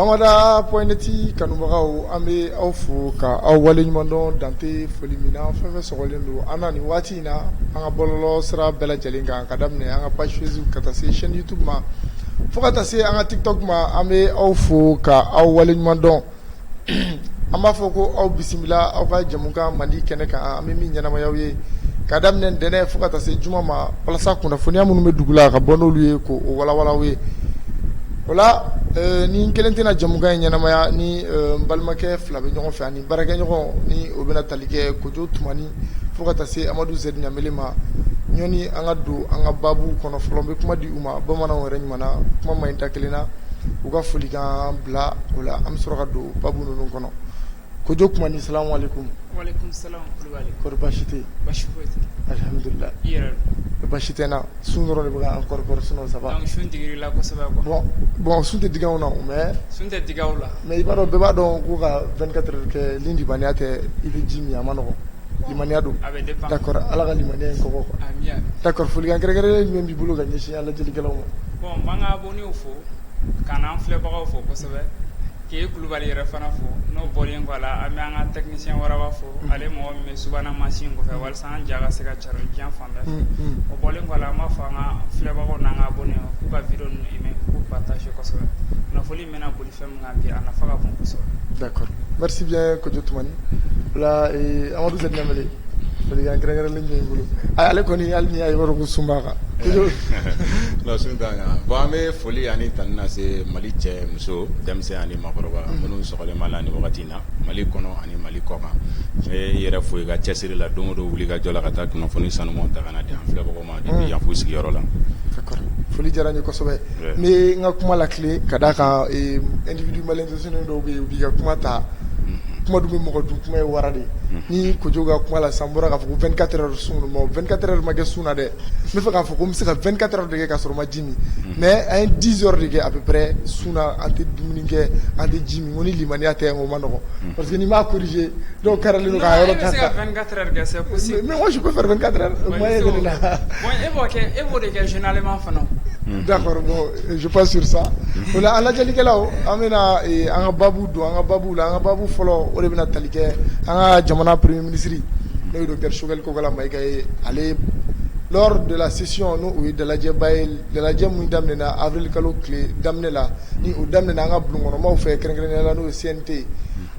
Bamada point net kanubagaw an bɛ aw fo ka aw waleɲuman dɔn dan tɛ foli min na fɛn fɛn sɔgɔlen don an na nin waati in na an ka bɔlɔlɔ sira bɛɛ lajɛlen kan ka daminɛ an ka page Facebook ka taa se chaîne YouTube ma fo ka taa se an ka TikTok ma an bɛ aw fo ka aw waleɲuman dɔn an b'a fɔ ko aw bisimila aw ka jamukan Mali kɛnɛ kan an bɛ min ɲɛnamaya aw ye ka daminɛ ntɛnɛn fo ka taa se juma ma walasa kunnafoniya minnu bɛ dugu la ka bɔ n'olu ye k'o walawala aw ye o la ne kelen tɛna jamukan in ɲɛnamaya ni n balimakɛ fila bɛ ɲɔgɔn fɛ ani baarakɛɲɔgɔn ni o bɛna tali kɛ Kojo Tumani fo ka taa se Amadu Zɛri Ɲamele ma yanni an ka don an ka baabu kɔnɔ fɔlɔ n bɛ kuma di u ma bamanan yɛrɛ ɲuman kuma man ɲi da kelen na u ka foli bila o la an bɛ sɔrɔ ka don ba ninnu kɔnɔ ko jo kuma ni sa wali kun tɛdulila basi tɛ na sun dɔrɔn de bɛ an kɔrɔ sun saba sun bɔn sun tɛ d na mɛ sun tɛ d la mɛ i b'a dɔn bɛɛ b'a dɔn ko kakɛ kɛ nibananiya tɛ i bɛ ji min a ma nɔgɔ limaniya don da ala ka lamani in kɔ da foliyankɛkɛ min b'i bolo ka ɲɛsin ala lajɛlikɛlaw ma Ka n'an filɛbagaw fo kosɛbɛ k'i kulubali yɛrɛ fana fo n'o bɔlen kɔ a la an bɛ an ka technicien Waraba fo ale mɔgɔ min bɛ subahana mansin kɔfɛ walasa an ja ka se ka cari diɲɛ fan bɛɛ fɛ o bɔlen kɔ an b'a fɔ an ka filɛbagaw n'an ka abonnés k'u ka vidéo ninnu aimer k'u partager kosɛbɛ kunnafoni in bɛna boli fɛn min kan bi a nafa ka bon kosɛbɛ d'accord merci bien Kojo Tumani o la Amadu Zɛri Ɲamele Folikan kɛrɛnkɛrɛnnen b'i bolo ale kɔni hali n'i y'a ye i b'a dɔn ko sun b'a kan non sun t'an kan bon an bɛ foli ani tanu lase mali cɛ muso denmisɛnnin ani maakɔrɔba minnu sɔgɔlen b'an na nin wagati in na mali kɔnɔ ani mali kɔ kan n b'i yɛrɛ fo i ka cɛsiri la don o don wuli ka jɔ la ka taa kunnafoni sanumanw ta ka na di an filɛ Yan f'u sigiyɔrɔ la d'accord foli diyara n ye kosɛbɛ n bɛ n ka kuma latilen ka d'a kan individu malintentionné dɔw bɛ yen u b'i ka kuma ta kuma dun bɛ mɔgɔ dun kuma ye wara de ni Kojo ka kuma la san bɔra k'a fɔ ko 24 heures sun don 24 heures ma kɛ sun na dɛ n b'a fɛ k'a fɔ ko n bɛ se ka 24 heures de kɛ k'a sɔrɔ n ma mɛ an ye di yɔrɔ de kɛ a bɛ sun an tɛ dumuni kɛ an tɛ ji min ni lammiya tɛ o ma nɔgɔ parce que b'a kuruze dɔw kɛra yɔrɔ la e b'o de kɛ zma fana da sa o alajlikɛlaw an bɛ an ka baabu don an ka baabu la an ka baabu fɔlɔ o de bɛna talikɛ an ka jamana pere minisiriri n'o don kɛ sokɛli Kokala Mayiga ye ale lors de la session n'o o ye dalajɛba ye dalajɛ min daminɛna avril kalo tile daminɛ la ni o daminɛna an ka bulon kɔnɔmaw fɛ kɛrɛnkɛrɛnnenya la n'o ye CNT ye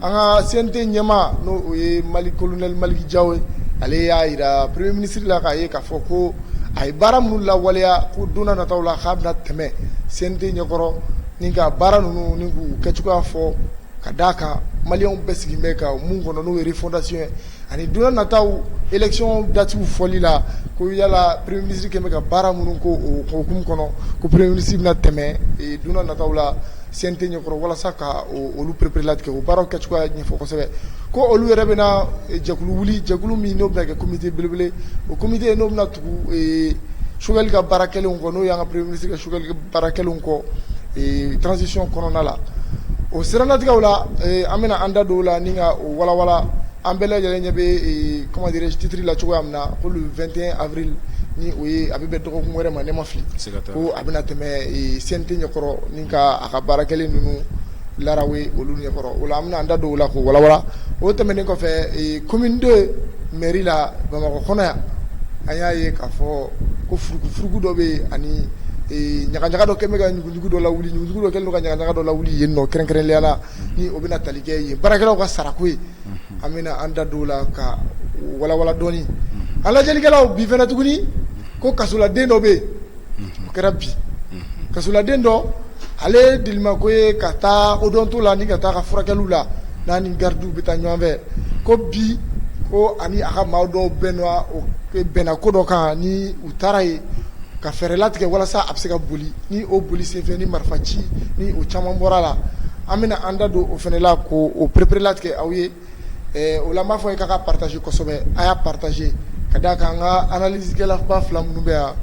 an ka CNT ɲɛmaa n'o o ye Mali colonel Maliki Jawo ye ale y'a jira premier ministre la k'a ye k'a fɔ ko a ye baara minnu lawaleya ko don n'a nataw la k'a bɛna tɛmɛ CNT ɲɛkɔrɔ ni ka baara ninnu ni k'u kɛcogoya fɔ ka d'a kan maliyɛnw bɛɛ sigilen bɛ ka mun kɔnɔ n'o ye refondation ye ani don n'a nataw élection datiw fɔli la ko yala premier ministre kɛlen bɛ ka baara minnu ko o hukumu kɔnɔ ko premier ministre bɛna tɛmɛ don n'a nataw la CNT ɲɛkɔrɔ walasa ka olu perepere latigɛ o baaraw kɛcogoya ɲɛfɔ kosɛbɛ ko olu yɛrɛ bɛna jɛkulu wuli jɛkulu min n'o bɛna kɛ komite belebele o komite n'o bɛna tugu Choguel ka baara kɛlenw kɔ n'o y'an ka premier ministre ka Choguel Baara kɛlenw kɔ transition kɔnɔna la o siranatigɛ la an bɛna an da don o la ni ka o walawala an bɛɛ lajɛlen ɲɛ bɛ comment dirais-je titre la cogoya min na ko le 21 avril ni o ye a bɛ bɛn dɔgɔkun wɛrɛ ma ne ma fili ko a bɛna tɛmɛ CNT ɲɛkɔrɔ ni ka a ka baara kɛlen ninnu Lara olu ɲɛkɔrɔ o la an bɛna an da don o la k'o walawala o tɛmɛnen kɔfɛ commune 2 mairie la Bamakɔ kɔnɔ yan a y'a ye k'a fɔ ko furugu dɔ bɛ yen ani ɲagaɲaga dɔ kɛlen bɛ ka ɲuguɲugu dɔ lawuli ɲuguɲugu dɔ kɛlen ka ɲagaɲaga dɔ lawuli yen nɔ kɛrɛnkɛrɛnnenya la ni o bɛna tali kɛ ye baarakɛlaw ka sarako ye an bɛna an da don o la k'a walawala dɔɔni an lajɛlikɛlaw bi fana tuguni ko kasoladen dɔ bɛ yen o kɛra bi kasoladen dɔ ale delinako ye ka taa odonto la ni ka taa ka furakɛliw la n'a ni garidiw bɛ taa ɲɔgɔn fɛ ko bi ko ani a ka maa dɔw bɛn bɛnna ko dɔ kan ni u taara yen ka fɛɛrɛ latigɛ walasa a bɛ se ka boli ni o boli senfɛ ni marifa ci ni o caman bɔra la an bɛna an da don o fana la k'o perepere latigɛ aw ye O la n b'a fɔ a ye k'a ka partager kosɛbɛ a y'a partager ka da kan an ka analyse kɛlaba fila minnu bɛ yan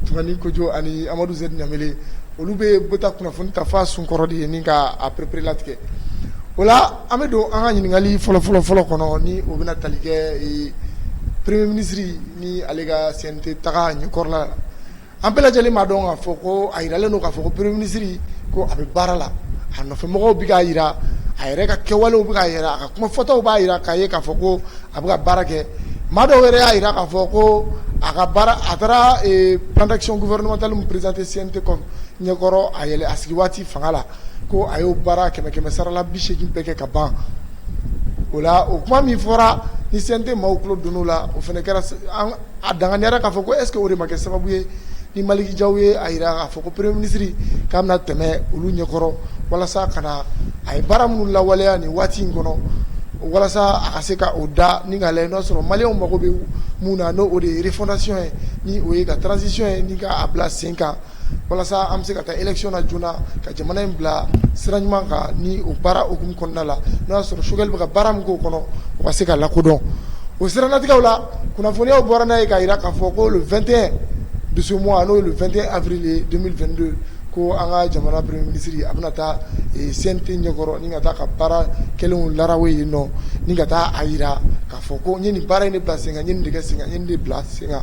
Tumani Kojo ani Amadu Z Ɲamele olu bɛ bɔ taa kunnafoni ta f'a sun kɔrɔ de ye ni ka a perepere latigɛ o la an bɛ don an ka ɲininkali fɔlɔ fɔlɔ fɔlɔ kɔnɔ ni o bɛna tali kɛ premier ministre ni ale ka CNT taga ɲɛkɔrɔla la An bɛɛ lajɛlen b'a dɔn k'a fɔ ko a yiralen don k'a fɔ ko premier ministre ko a bɛ baara la, a nɔfɛ mɔgɔw bɛ k'a yira, a yɛrɛ ka kɛwalew bɛ k'a yira, a ka kuma fɔtaw b'a yira k'a ye k'a fɔ ko a bɛ ka baara kɛ, maa dɔw yɛrɛ y'a yira k'a fɔ ko a ka baara a taara plan d'action gouvernementale min présenté CNT ɲɛkɔrɔ a yɛlɛ a sigi waati fanga la ko a y'o baara kɛmɛ kɛmɛ sarala bi segin bɛɛ kɛ ka ban o la o kuma min fɔra ni CNT maaw tulo donn'o la o fana kɛra a danganiyara k'a fɔ ko est-ce que o de ma kɛ sababu ye ni Maliki Jaw ye a jira k'a fɔ ko premier ministre k'a bɛna tɛmɛ olu ɲɛkɔrɔ walasa ka na a ye baara minnu lawaleya nin waati in kɔnɔ walasa a ka se ka o da ni k'a lajɛ n'o sɔrɔ maliyɛnw mago bɛ mun na n'o o de ye refondation ye ni o ye ka transition ye ni k'a bila sen kan walasa an bɛ se ka taa élection na joona ka jamana in bila sira ɲuman kan ni o baara hukumu kɔnɔna la n'o y'a sɔrɔ Choguel bɛ ka baara min k'o kɔnɔ o ka se ka lakodɔn o siranatigɛ la kunnafoniya bɔra n'a ye k'a jira k'a fɔ ko le vingt et un de ce mois n'o ye le vingt et un avril deux mille vingt-deux ko an ka jamana premier ministre a bɛna taa CNT ɲɛkɔrɔ ni ka taa ka baara kɛlenw la yen nɔ ni ka taa a jira k'a fɔ ko n ye nin baara in de bila sen kan n ye nin de kɛ sen kan n ye nin de bila sen kan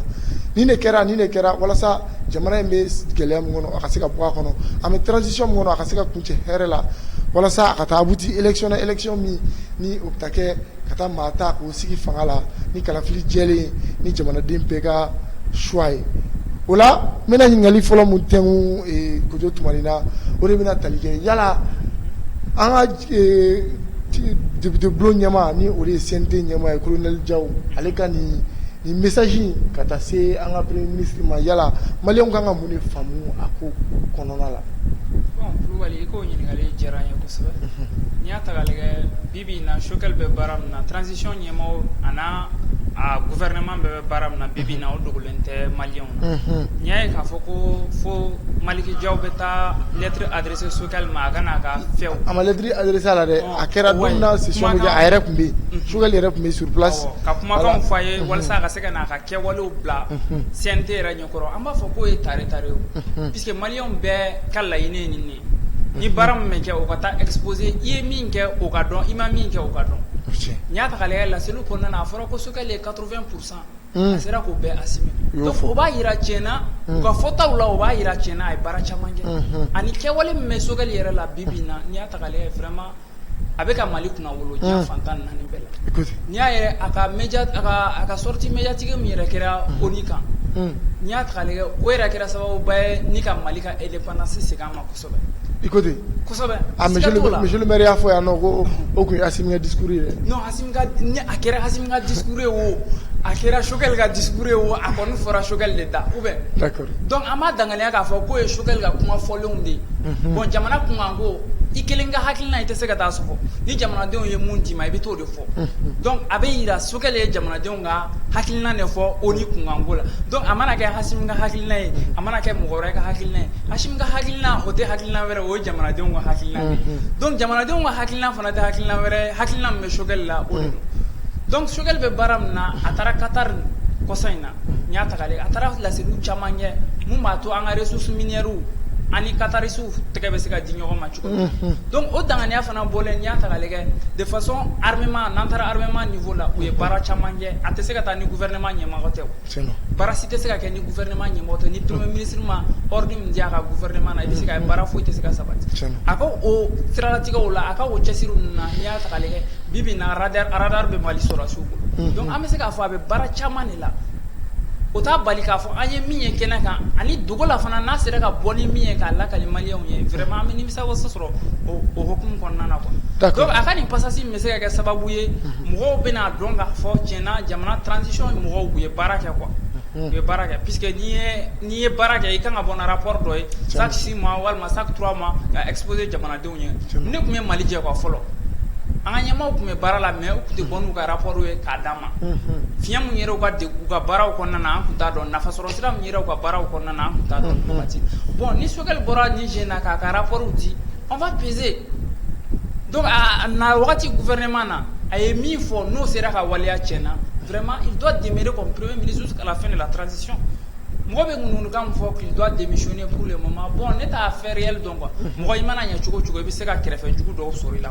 nin de kɛra nin de kɛra walasa jamana in bɛ gɛlɛya min kɔnɔ a ka se ka bɔ a kɔnɔ an bɛ transition min kɔnɔ a ka se ka kuncɛ hɛrɛ la walasa a ka taa abouti élection na élection min ni o bɛ taa kɛ ka taa maa ta k'o sigi fanga la ni kalafili jɛlen ye ni jamanaden bɛɛ ka choix ye o la n bɛna ɲininkali fɔlɔ min tɛnku ee Kojo Tumani na o de bɛna tali kɛ yala an ka ee deputebulon ɲɛmaa ni o de ye CNT ɲɛmaa ye colonel Jaw ale ka nin Nin message ka taa se an ka premier ministre ma yala maliyɛnw ka kan ka mun de faamu a ko kɔnɔna la? Bon Kulubali i ka o ɲininkali diyara n ye kosɛbɛ, unhun, n'i y'a ta k'a lajɛ bi bi in na Choguel bɛ baara min na transition ɲɛmɔgɔ a n'a a gouvernement bɛɛ bɛ baara min na bi bi in na o dogolen tɛ maliyɛnw na, unhun, n'i y'a ye k'a fɔ ko fo Maliki Jaw bɛ taa lettre adressée Parce que sukɛ ma a kana ka fɛ a ma lɛtiri sa la dɛ a kɛra don a yɛrɛ tun bɛ yen sokɛ yɛrɛ tun bɛ surlasi ka kuma fɔ a ye walasa ka se ka ka kɛ wale bila sin tɛ yɛrɛ ɲɛkɔrɔ an b'a fɔ k'o ye tare ta ye parce que mali bɛɛ ka laɲiniinɛ nin nin ni baara min kɛ o ka taa epse i ye min kɛ o ka dɔn i ma min kɛ o ka dɔn n y'a ta ale lase kɔnɔna a fɔra ko sokɛkɛ ye kaorofɛn kurusan a sera k'o bɛɛ assumer o b'a jira tiɲɛna u ka fɔtaw la o b'a jira tiɲɛna a ye baara caman kɛ ani kɛwale min bɛ Choguel yɛrɛ la bi bi na n'i y'a ta k'a lajɛ vraiment a bɛ ka Mali kunnawolo diɲɛ fan tan ni naani bɛɛ la n'i y'a yɛrɛ a ka media a ka sortie médiatique min yɛrɛ kɛra ONU kan n'i y'a ta k'a lajɛ o yɛrɛ kɛra sababuba ye ni ka Mali ka indépendance segin a ma. miri y'a fɔ yan ko o tun ye dikuru ye a kɛra ha dikuru ye o a kɛra sokɛkɛ ka dikuru ye o a ko ne fɔra sokɛkɛ de da u bɛ dɔnku an ma daya k'a fɔ k'o ye sokɛkɛ ka kuma fɔlen de ye bɔn jamana kun kan ko i kelen ka hakili i tɛ se ka taa so ni jamanadenw ye mun dii ma i bɛ t'o de fɔ a bɛ jira sokɛkɛ ye jamanadenw ka hakilina de fɔ ONU kunkanko la donc a mana kɛ Assimi ka hakilina ye a mana kɛ mɔgɔ wɛrɛ ka hakilina ye Assimi ka hakilina o tɛ hakilina wɛrɛ o ye jamanadenw ka hakilina de ye donc jamanadenw ka hakilina fana tɛ hakilina wɛrɛ ye hakilina min bɛ Choguel la o de don donc Choguel bɛ baara min na a taara Qatar kɔsa in na n'i y'a ta k'a lajɛ a taara laseliw caman kɛ min b'a to an ka ressources minières ani Qataris tɛgɛ bɛ se ka di ɲɔgɔn ma cogo min na donc o danganiya fana bɔlen n'i y'a ta k'a lajɛ de façon armement n'an taara armement niveau la u ye baara caman kɛ a tɛ se ka taa ni gouvernement ɲɛmɔgɔ tɛ baara si tɛ se ka kɛ ni gouvernement ɲɛmɔgɔ tɛ ni premier ministre ma ordre min di a ka gouvernement na i bɛ se k'a ye baara foyi tɛ se ka sabati a ka o siralatigɛw la a ka o cɛsiri ninnu na n'i y'a ta k'a lajɛ bi bi in na radar radar bɛ Mali sɔrɔdasiw bolo donc an bɛ se k'a fɔ a bɛ baara caman de la o t'a bali k'a fɔ an ye min ye kɛnɛ kan ani dogo la fana n'a sera ka bɔ ni min ye k'a lakali maliyɛnw ye vraiment an bɛ nimisiwasa sɔrɔ o hukumu kɔnɔna na quoi a ka nin passage bɛ se ka kɛ sababu ye mɔgɔw bɛn'a dɔn k'a fɔ tiɲɛ na jamana transition mɔgɔw u ye baara kɛ quoi u ye baara kɛ puisque n'i ye baara kɛ i ka kan ka bɔ ni rapport dɔ ye chaque six mois walima chaque trois mois ka exposer jamanadenw ye ne tun bɛ Mali jɛ fɔlɔ an ka ɲɛmaaw tun bɛ baara la mais u tɛ bɔ n'u ka rapport ye k'a di an ma fiɲɛ minnu yɛrɛ u ka baaraw kɔnɔna na an tun t'a dɔn nafasɔrɔ Sira min ka baaraw kɔnɔna na taa bɔn ni sokɛ bɔra ni j na k'a ka pw di an ma peze don na wagati fɛrɛma na a ye min fɔ n'o sera ka waleya cɛ na fɛrɛma i dɔ dɛmɛb minisusu kala fɛn de la taarasisi mɔgɔ bɛ ŋkan fɔ k'i dɔ denmisɛnnin pur ma bɔn ne t'a fɛɛrɛ dɔn mɔgɔ i mana ɲɛ cogo cogo i bɛ se ka kɛrɛfɛ jugu dɔw sɔrɔ i la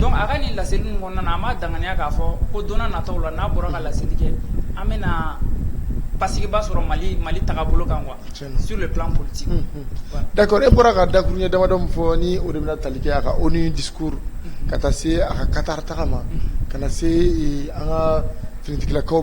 donc a ka nin laseli ninnu kɔnɔna na an b'a danganiya k'a fɔ ko don nataw la n'a bɔra ka laseli kɛ an bɛna basigiba sɔrɔ Mali tagabolo kan quoi sur le plan politique d'accord e bɔra ka dakuruɲɛ damadɔ min fɔ ni o de bɛna tali kɛ a ka ONU discours ka taa se a ka Qatar taga ma ka na se an ka finitigilakaw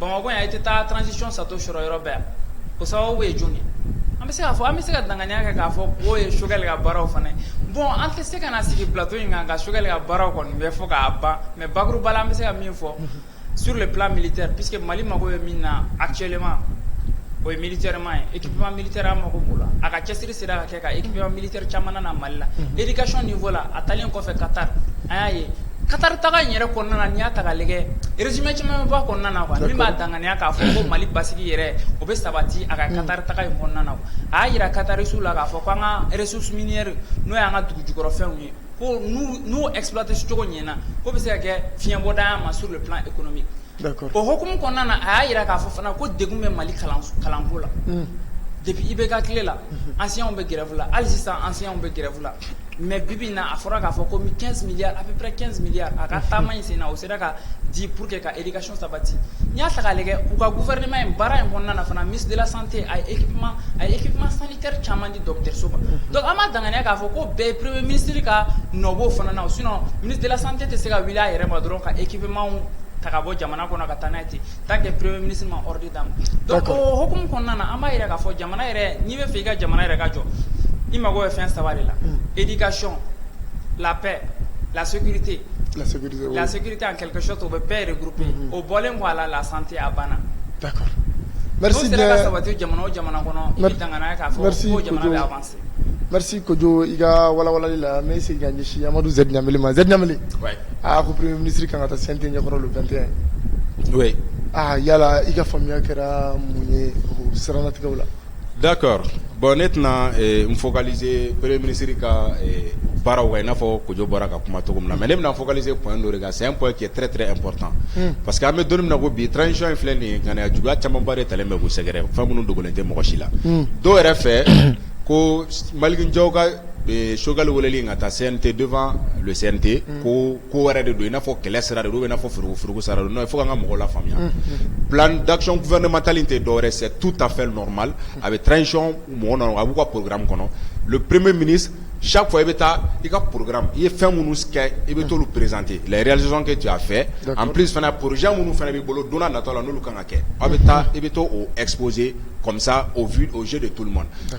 Bamakɔ yan i tɛ taa transition château sɔrɔ yɔrɔ bɛɛ yan, o sababu ye jɔni ye? an bɛ se k'a fɔ an bɛ se ka danganiya kɛ k'a fɔ k'o ye Choguel ka baaraw fana ye bon an tɛ se ka na sigi plateau in kan ka Choguel ka baaraw kɔni bɛɛ fɔ k'a ban mais bakuruba la an bɛ se ka min fɔ sur le plan militaire puisque Mali mago bɛ min na actuellement o ye militairement ye équipement militaire an mago b'o la a ka cɛsiri sera ka kɛ ka équipement militaire caman na na Mali la éducation niveau la a taalen kɔfɛ Qatar an y'a ye Qatar taga in yɛrɛ kɔnɔna na n'i y'a ta k'a lajɛ résumé caman bɛ bɔ a kɔnɔna na quoi min b'a danganiya k'a fɔ ko Mali basigi yɛrɛ o bɛ sabati a ka Qatar taga in kɔnɔna na a y'a jira Qatarisw la k'a fɔ ko an ka ressources minières n'o y'an ka dugu jukɔrɔ fɛnw ye ko n'u n'u exploiter cogo ɲɛna k'o bɛ se ka kɛ fiɲɛbɔda ye an ma sur le plan économique o hkumu kɔnɔna na a y'a jira k'a fɔ fana ko de bɛ mali kalanko la de i bɛ ka tile la an si bɛ gɛrɛla hali sisan an si bɛ gɛrɛla mɛ bibi na a fɔra k'a fɔ ko miya a bɛ kɛya a ka taama in sen na o sera ka di pur que ka e ka so sabati n y'a ta k'ale kɛ u ka guɛinma in baara in kɔnɔna fana misila sante a e a e kuma san teriri caman di dɔgɔtɔrɔso ma dɔnku an ma danganiya k'a fɔ ko bɛɛ perepbeme minisiriri ka nɔbɔ fana na o sun minisila sante tɛ se ka wuli a yɛrɛ ma dɔrɔn ka ekipma ta ka bɔ jamana kɔnɔ ka taa n'a ye ten tant que premier ministre ma ordre d'a ma, d'accord, donc o hokumu kɔnɔna na an b'a jira k'a fɔ jamana yɛrɛ n'i bɛ fɛ i ka jamana yɛrɛ ka jɔ i mago bɛ fɛn saba de la, un, éducation, la paix, la sécurité, la sécurité, oui, la sécurité en quelque sorte o bɛ bɛɛ regrouper unhun, o bɔlen kɔ a la la santé a banna, d'accord, merci bien, n'o sera ka sabati jamana o jamana kɔnɔ i bɛ danganaya k'a fɔ ko jamana bɛ avancer Kojugu i ka wawa la n sigi ɲɛ amadu z ma zri aa ko minisiri ka kan ka taa sante ɲɛkɔrɔlantɛ aaa yala i ka faamuyaya kɛra mun ye siranatigɛ la da bɔn ne tɛna n fɔkazperere minisiriri ka baaraw kan n'a fɔ kojɔ bɔra ka kuma cogo min na mɛ ne bɛna fɔkazse kɔn don kan C'est un point qui est très très important unhun parce que an bɛ don min na ko bi transition in filɛ nin ye ŋaniya juguya camanba de talen bɛ k'u sɛgɛrɛ fɛn minnu dogolen tɛ mɔgɔ si la unhun dɔw yɛrɛ fɛ ko Malick Diaw ka ee Choguel weleli in ka taa CNT devant le CNT unhun ko ko wɛrɛ de don i n'a fɔ kɛlɛ sira de don ou bien i n'a fɔ furuku furuku sira de don non il faut que an ka mɔgɔw lafaamuya unhun plan d'action gouvernemental in tɛ dɔwɛrɛ ye c'est tout à fait normal a bɛ transition mɔgɔ nɔ a b'u ka programme kɔnɔ le premier ministre sa fɔ i bɛ taa i ka pkra i ye fɛn minnu i bɛ to perezte laresi kɛ jɔ a fɛ an p fana poroz minnu fana b'i bolo donna natɔ la n'olu kan ka kɛ aw bɛ taa i bɛ to o epse kɔmisa o ozo de toma na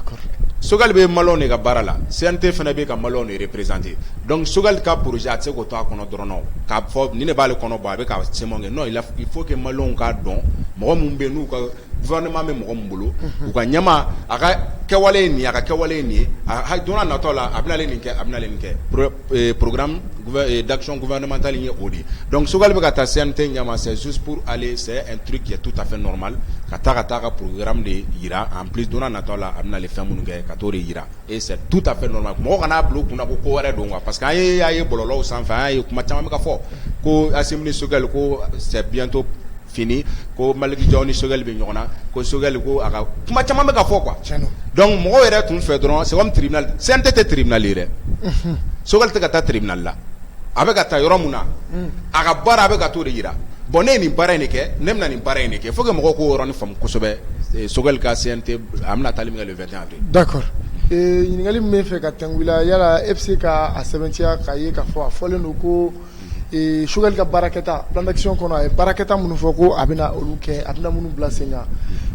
sokɛkali bɛ malo de ka baara la sɛyɛnte fana bɛ ka malo de perezte dɔnku sokɛkali ka poroze a se ko to a kɔnɔ dɔrɔn k'a fɔ ni ne b'ale kɔnɔ bɔ a bɛ' se kɛ n'o fo malo ka dɔn mɔgɔ minnu bɛ n'u ka gouvernement bɛ mɔgɔ min bolo u ka ɲɛmaa a ka kɛwale ye nin ye a ka kɛwale ye nin ye a don n'a nataw la a bɛna nin kɛ a bɛna nin kɛ programme d'action gouvernemental ye o de ye donc Choguel bɛ ka taa CNT ɲɛma c'est juste pour aller c'est un truc qui est tout à fait normal ka taa ka taa a ka programme de jira en plus don n'a nataw la a bɛna fɛn minnu kɛ ka t'o de jira et c'est tout à fait normal mɔgɔ kana a bila u kunna ko ko wɛrɛ don quoi parce que an ye y'a ye bɔlɔlɔw sanfɛ an y'a ye kuma caman bɛ ka fɔ ko Assimi ni Choguel ko c'est bientôt fini ko Malick Diaw ni Choguel bɛ ɲɔgɔn na ko Choguel ko a ka kuma caman bɛ ka fɔ quoi donc mɔgɔw yɛrɛ tun fɛ dɔrɔn c'est comme tribunal CNT tɛ tribunal ye dɛ Choguel tɛ ka taa tribunal la a bɛ ka taa yɔrɔ min na a ka baara a bɛ ka t'o de jira bon ne ye nin baara in de kɛ ne bɛna nin baara in kɛ faut que mɔgɔw k'o yɔrɔnin faamu kosɛbɛ Choguel ka CNT a bɛna taali min kɛ le 21 avril d'accord ɲininkali min bɛ fɛ ka tɛmɛ yala e bɛ se k'a sɛbɛntiya an ye k'a fɔ a fɔlen don ko Choguel ka baarakɛta plan d'action kɔnɔ a ye baarakɛta minnu fɔ ko a bɛna olu kɛ a bɛna minnu bila sen kan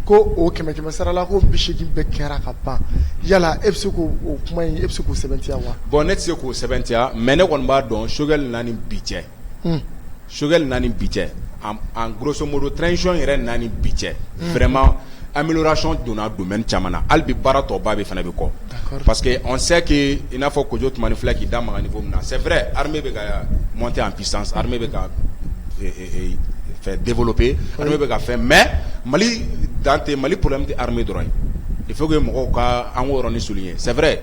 ko o kɛmɛ kɛmɛ sarala ko bi seegin bɛɛ kɛra ka ban yala e bɛ se k'o kuma in e bɛ se k'o sɛbɛntiya wa bon ne tɛ se k'o sɛbɛntiya mais ne kɔni b'a dɔn Choguel na ni bi cɛ Choguel na ni bi cɛ en grosso modo transition yɛrɛ na ni bi cɛ vraiment Amélioration donna domaine caman na hali bi baara tɔ ba de fana bɛ kɔ parce que on sait que i n'a fɔ Kojo Tumani filɛ k'i da maga niveau min na c'est vrai armée bɛ ka monter en puissance armée bɛ ka fɛn développer armée bɛ ka fɛn mais Mali dan tɛ Mali problème tɛ armée dɔrɔn ye il faut que mɔgɔw ka an k'o yɔrɔnin souligner c'est vrai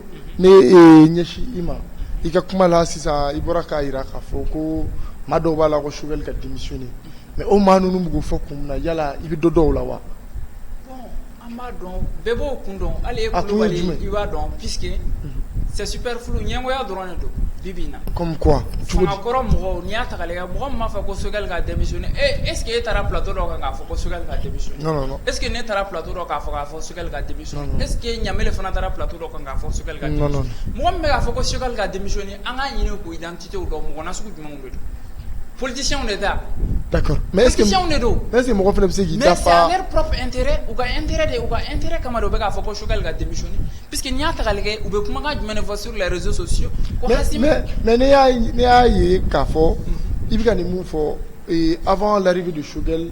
ne e ɲɛsin i ma i ka kuma la sisan i bɔra k'a jira k'a fɔ ko maa dɔw b'a la ko sokɛli ka denmisɛnnin mɛ o maa ninnu bɛ fɔ kun na yala i bɛ dɔ dɔw la wa bɛɛ b'o kun dɔn ale b'a dɔn sɛsipri ɲɛgoya dɔrɔn don bi na cogokɔrɔ mɔgɔ ni y'a ta mɔgɔ b'a fɔ ko sokɛli ka denmisɛnnin eseke e taara ptɔ dɔn kan'a fɔ ko sokɛli ka eseke ne taara ptɔ dɔn k'a fɔ k'a fɔ sokɛli ka e ɲa fana taara pto dɔ kan'a fɔ sokɛkali ka mɔgɔ min bɛ'a fɔ ko sokɛkali ka denmisɛnnin an ka ɲini k' dan tɛ dɔn mɔgɔ na sugu jumɛn bɛ politisiw de da da mɛ ese mɔgɔ fana bɛ se k'i u ka n de u ka n teri kama u bɛ'a fɔ ko sokɛkali ka denmisɛnnin p que n y'a ta kɛ u bɛ kumakan jumɛn fɔ suru la rezo sɔsiye mɛ ne y'a ye k'a fɔ i bɛ ka nin min fɔ a' laribahi don sokɛ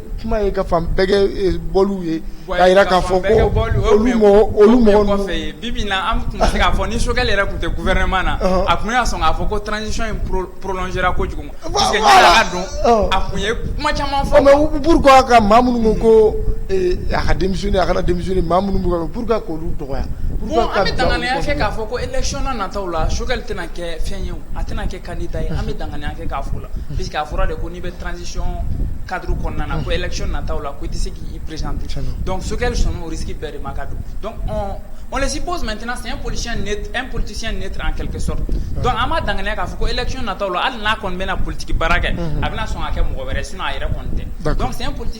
Kuma ye ka fan bɛɛ kɛ bɔ ye jira k'a fɔ bi an tun se k'a fɔ ni sokɛ yɛrɛ tun tɛ gu wɛrɛɛrɛma na a tun y'a sɔn k'a fɔ ko tzsi in porola ko kojugu don a tun ye kuma caman fɔ mɛ buuru ka maa minnu ko a ka denmisɛn a ka denmisɛn maa minnu bɛ p ka ko olu dɔgɔya kɛ k'a fɔ ko ecɔnna nata la sokɛkali tɛna kɛ fɛn ye a tɛna kɛ Kan ta ye an bɛ danganiya kɛ k'a fɔ la p que a fɔra de ko n'i bɛ transisiɔn kadi kɔnɔna na ko ec na taa la ko i tɛ se k'i perez dɔn sokɛkɛ sɔn orisiri bɛɛ de ma ka don dɔnsi bɔ mɛt siɲɛ polisi e politesiyɛn ne an kɛlɛkɛ sɔrɔ dɔnku an ma danganiya k'a fɔ ko ec na taa la hali n'a kɔni bɛna politigi baara kɛ a bɛna sɔn ka kɛ mɔgɔ wɛrɛ sin a yɛrɛ kɔni tɛ dɔn politi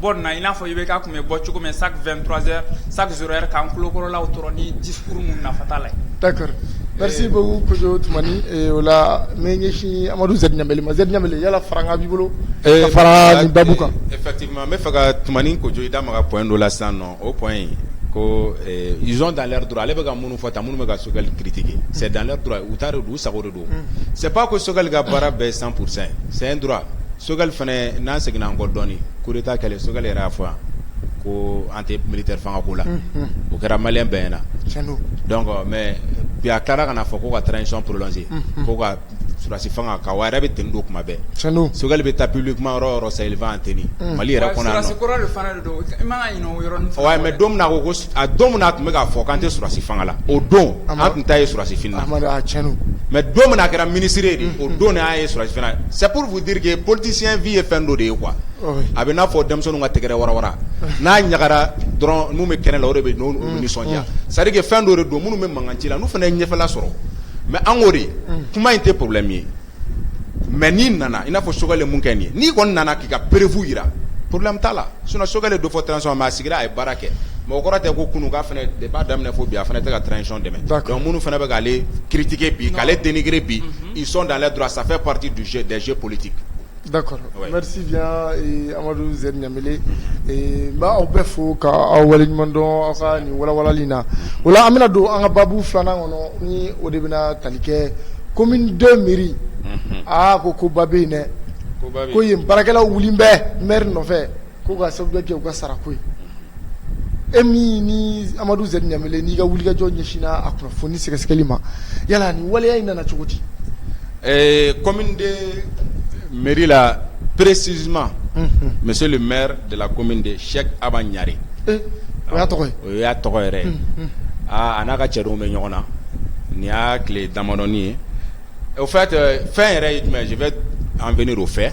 bɔ na i n'a fɔ i bɛ ka tun bɛ bɔ cogo min sa fɛn dɔrɔnze sa yɛrɛ k'an kulaw dɔrɔn ni di furu minnu na fata la dakari gari bɛ kojo tuma o la mɛ ɲɛsin amadu z ma z yala fara b'i bolo fara da kan eti n bɛ fɛ ka tmanin kojo i da ma ka p don la sisan nɔ o kɔn in kosɔn dan dɔrɔn ale bɛka ka mun fɔ ta minnu bɛ ka sokɛkali kitigi sɛ dan tora u taara don u sago don sɛ ko sokɛkali ka baara bɛɛ san kurusɛn sɛyɛn tora sokɛkali fana n'an seginna an kɔ dɔɔnini koeeta kɛlɛ sokɛkali yɛrɛ' fɔ yan ko an tɛ mili tɛ fanga ko la o kɛra mali bɛɛy na mɛ bi a taara kana fɔ ko ka taa nisɔn porolense ko ka sulasi fanga ka yɛrɛ bɛ tdo kuma bɛɛ sokɛkali bɛ taa ppilu kuma yɔrɔ yɔrɔ sayi tɛ mali yɛrɛ Ouais mais don min na ko a don min na a tun bɛ k'a fɔ k'an tɛ surasi fanga la o don an tun t'a ye surasi fini na mais don min a kɛra ministre ye de o don an y'a ye surasi fini na c'est pour vous dire que politicien vie ye fɛn dɔ de ye quoi a bɛ n'a fɔ denmisɛnninw ka tɛgɛrɛ warawara n'a ɲagara dɔrɔn minnu bɛ kɛnɛ la o de bɛ nisɔndiya c'est-à-dire que fɛn dɔ don minnu bɛ mankan ci la n'u fana ye ɲɛfɛla sɔrɔ mais an k'o de kuma in tɛ problème ye mɛ n'i nana i n'a fɔ sokɛ mun kɛ nin n'i kɔni nana k'i ka perefu jira porobilɛ bɛ' la s sokɛkɛ don fɔ tsi ma a sigira a ye baara kɛ mɔgɔ kɔrɔ tɛ ko kunun' de b'a daminɛ fɔ bi a fana tɛ ka tcɔn dɛmɛ minnu fana bɛ'ale kitigi bi k'ale denkiri bi i sɔn dalen dɔrɔn a sanfɛ pati dusue dɛsɛse politi D'accord merci bien amadu z ɲamele n b'aw bɛɛ fo k'aw waleɲuman dɔn aw ka nin walawalali na o la an bɛna don an ka baabu filanan kɔnɔ ni o de bɛna tali kɛ commune deux mairie aa ko ko ba bɛ yen dɛ ko yen baarakɛlaw wulilen bɛ maire nɔfɛ ko ka sababu kɛ u ka sara ko ye e min ni amadu z ɲamele n'i ka wulikajɔ ɲɛsinna a kunnafoni sɛgɛsɛgɛli ma yala nin waleya in nana cogo di ɛɛ commune deux mairie là précisément monsieur le maire de la commune deux Cheikh Aba Ɲare eh, o y'a tɔgɔ ye o y'a tɔgɔ yɛrɛ ye aa a n'a ka cɛdenw bɛ ɲɔgɔn na nin y'a tile damadɔni ye O fɛn fɛn yɛrɛ ye jumɛn ye an bɛ o fɛ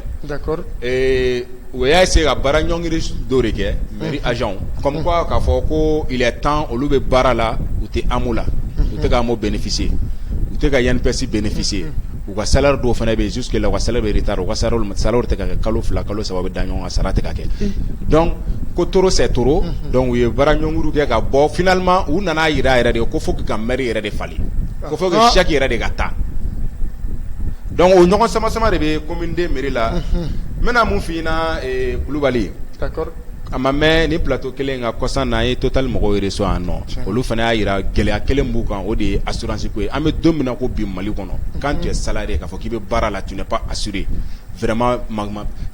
o y'a se ka baara ɲɔngiri dɔ de kɛ mi az k'a fɔ ko tan olu bɛ baara la u tɛ an la u tɛ an bɛfise u tɛ ka yananipsi bɛfise u ka sa dɔw fana bɛ su la ka sa bɛ ta u ka sa sa tɛ kɛ kalo fila kalo saba bɛ da ɲɔgɔn ka sara tigɛ kɛ dɔn ko toro sɛ to u ye baara ɲɔngri kɛ ka bɔ flima u nana jira yɛrɛ de ye ko fo ka m yɛrɛ de falen Ko faut que Cheikh yɛrɛ de ka taa donc o ɲɔgɔn samasama de bɛ commune deux mairie la n bɛna mun f'i ɲɛna kulubali a ma mɛn nin plateau kelen kan kɔsa in na an ye Total mɔgɔw yɛrɛ sɔrɔ yan nɔ olu fana y'a jira gɛlɛya kelen b'u kan o de ye assurance ye an bɛ don min ko bi mali kɔnɔ quand tu es salarié k'a fɔ k'i bɛ baara la tu n'es pas assuré vraiment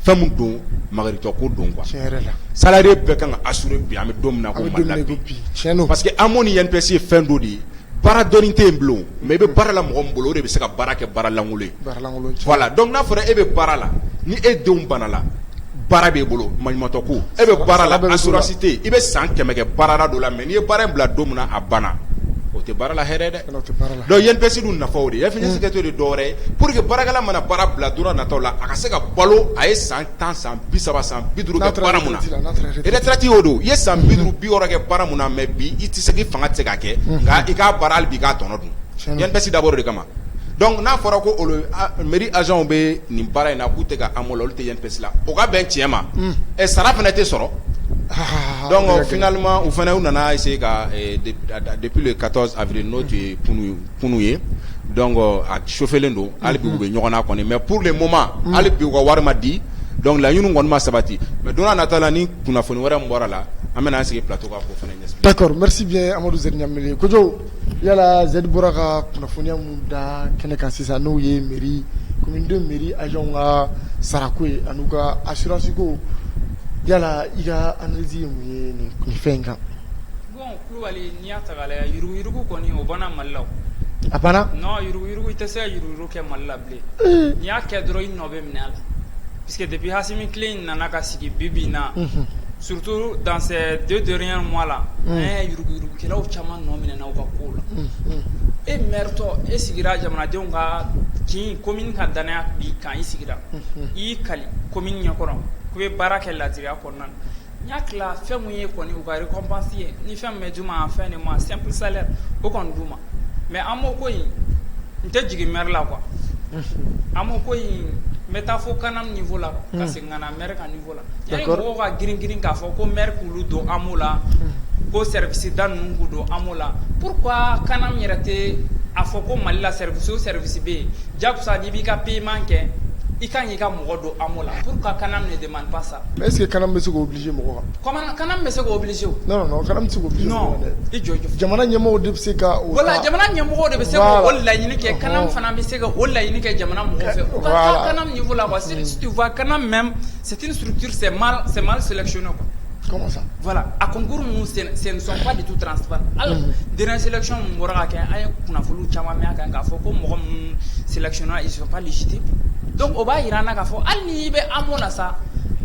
fɛn don makaritɔ ko don quoi salarié bɛɛ ka kan ka assuré bi an bɛ don parce que AMO ni INPS fɛn dɔ de ye baara dɔɔni tɛ yen bilen mais i bɛ baara la mɔgɔ min bolo o de bɛ se ka baara kɛ baara lankolon ye voilà donc n'a fɔra e bɛ baara la ni e denw banala baara b'e bolo maɲumatɔ ko e bɛ baara la assurance tɛ i bɛ san kɛmɛ kɛ baara dɔ la mais n'i ye baara in bila don min na a banna o tɛ baarala hɛrɛ dɛ donc INPS dun nafa o de ye fɛn in sigitɔ tɛ dɔwɛrɛ ye pour que baarakɛla mana baara bila don nataw la a ka se ka balo a ye san tan san bi saba san bi duuru kɛ baara min na retraite y'o de ye, i ye san bi duuru bi wɔɔrɔ kɛ baara min na mais bi i tɛ se i fanga tɛ se k'a kɛ nka i k'a baara hali bi i k'a tɔnɔ dun INPS dabɔra o de kama donc n'a fɔra ko mairie agents bɛ nin baara in na k'u tɛ ka AMO la olu tɛ INPS la o ka bɛn tiɲɛ ma ɛ sara fana tɛ sɔrɔ donc finalement u fana u nana essayer ka depuis le 14 avril n'o tun ye kunu ye kunun ye donc a chauffelen don hali bi u bɛ ɲɔgɔn na kɔni mais pour le moment hali bi u ka wari ma di donc laɲini kɔni ma sabati mais don n'a nata la ni kunnafoni wɛrɛ min bɔra a la an bɛna an sigi plateau kan k'o fana ɲɛfɔ d'accord merci bien Amadu Zɛdi Ɲanbele Kojo yala Zɛdi bɔra ka kunnafoniya min da kɛnɛ kan sisan n'o ye mairie commune II mairie agents ka sara ko ye an'u ka assurance ko yala i ka analyse ye mun ye nin fɛn in kan Kulubali n'i y'a ta k'a lajɛ yuruguyurugu kɔni o banna Mali la o, a banna, non yuruguyurugu i tɛ se ka yuruguyurugu kɛ Mali la bilen, ee, n'i y'a kɛ dɔrɔn i nɔ bɛ minɛ a la parce que depuis Asimi tile in nana ka sigi bi bi in na, unhun, surtout dans ces deux derniers mois là an ye yuruguyurugukɛlaw caman nɔ minɛna u ka kow la, unhun, e maire tɔ e sigira jamanadenw ka kin commune ka danaya b'i kan i sigira, unhun, i y'i kali commune ɲɛkɔrɔ k'i bɛ baara kɛ laadiriya kɔnɔna na n y'a tila fɛn min ye kɔni u ka récompense ye ni fɛn min bɛ d'u ma en fin de mois simple salaire o kɔni d'u ma mais AMO ko in n tɛ jigin maire la quoi AMO ko in n bɛ taa fo CANAM niveau la ka segin ka na maire ka niveau la yanni mɔgɔw ka girin girin k'a fɔ ko maire k'olu don AMO la ko service da ninnu k'u don AMO la pourquoi CANAM yɛrɛ tɛ a fɔ ko Mali la service o service bɛ yen janko sa n'i b'i ka paiement kɛ i ka kan k'i ka mɔgɔ don AMO la pourquoi CANAM ne demande Est ce que CANAM bɛ se k'o obliger mɔgɔ kan? CANAM bɛ se k'o obliger o. Non non CANAM tɛ se k'o obliger mɔgɔ kan dɛ. Non i jɔ i jɔ. Jamana ɲɛmɔgɔw de bɛ se ka o ta. Voila jamana ɲɛmɔgɔw de bɛ se k'o laɲini kɛ, CANAM fana bɛ se ka o laɲini kɛ jamana mɔgɔw fɛ. U ka taa CANAM niveau la quoi, si tu vois CANAM même c'est une structure c'est mal sélectionné quoi A ko g senfa de tu tfa dsenlacɔn min bɔra kɛ an ye kunnafoni caman min kan k'a fɔ ko mɔgɔ minnu senlacɔnlite dɔnku o b'a jira n' ka fɔ hali ni i bɛ an mɔn na sa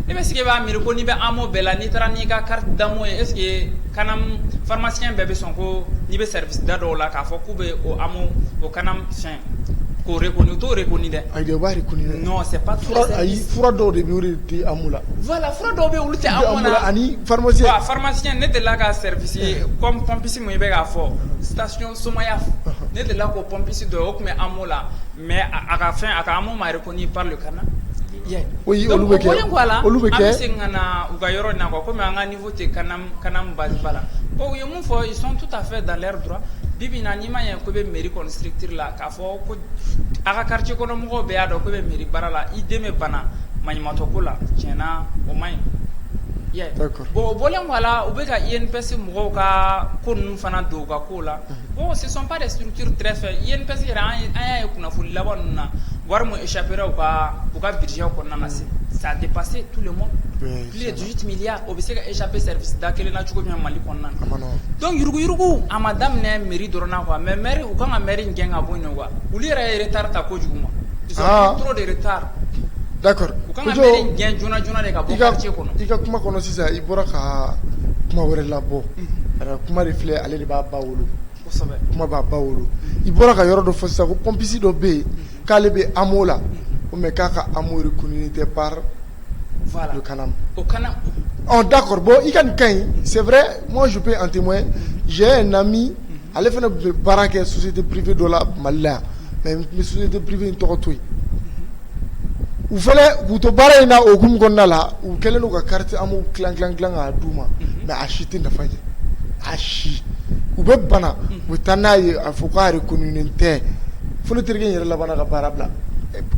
i bɛ sigi b'a mi ko n'i bɛ an mɔ bɛɛ la n'i taara n'i ka kari damo ye e ka faramasiyɛn bɛɛ bɛ sɔn ko n'i bɛ sɛda dɔw la k'a fɔ k'u bɛ o o kana fɛn Ko re kɔni to ko dɛ a dɔw bɛ di la vwala fura dɔw bɛ olu animasi ne de la ka sɛsi kɔnpsi ma i bɛ k'a fɔ sisansi somaya ne de la ko pɔnpsi dɔ o tun bɛ an la mɛ a ka fɛn a ka an mare ko n'i pale kana na olu bɛ kɛ olu bɛ segin ka na u ka yɔrɔ na kɔmi U tɛ kanam base ba la bon u ye mun fɔ ils sont tout à fait dans leur droit bi bi in na n'i m'a ɲɛ k'u bɛ mairie kɔni structure la k'a fɔ ko a ka quartier kɔnɔ mɔgɔw bɛɛ y'a dɔn k'u bɛ mairie baara la i den bɛ bana maɲumatɔ ko la tiɲɛ na o man ɲi i y'a ye d'accord bon o bɔlen kɔ a la u bɛ ka INPS mɔgɔw ka ko ninnu fana don u ka kow la bon ce sont pas des structures très faibles INPS yɛrɛ an ye an y'a ye kunnafoni laban ninnu na wari min échapper ra u ka u ka budget kɔnɔna na c'est ça a dépassé tout le monde oui Plus de dix-huit milliards o bɛ se ka échapper service da kelen na cogo min Mali kɔnɔna donc yuruguyurugu a ma daminɛ mairie dɔrɔn na quoi mais mairie u ka kan ka mairie in gɛn ka bɔ ɲɔgɔn u yɛrɛ ye retard ta kojugu ma trop de retard u ka kan ka gɛn joona joona de d'accord i ka kuma kɔnɔ sisan i bɔra ka kuma wɛrɛ labɔ a kuma de filɛ ale de b'a ba wolo kuma b'a ba wolo i bɔra ka yɔrɔ dɔ fɔ sisan ko pompiste dɔ bɛ yen k'ale bɛ AMO la o mais k'a ka AMO reconnu tɛ par Voilà. Le kanam. Au kanam. Oh d'accord. Bon, i ka nin ka ɲi. C'est vrai, moi je peux en témoigner. J'ai un ami, mhm. ale fana bɛ baara kɛ société privée dɔ la Mali la yan. Mais n bɛ société privée in tɔgɔ to yen. U fana k'u to baara in na o hukumu kɔnɔna la, u kɛlen don ka carte AMO tilan tilan tilan k'a d'u ma. Mhm. Mais a si tɛ nafa ɲɛ. A si. U bɛ bana, mhm. u bɛ taa n'a ye a fɔ k'a reconnu tɛ. Fo ne terikɛ in yɛrɛ labanna ka baara bila.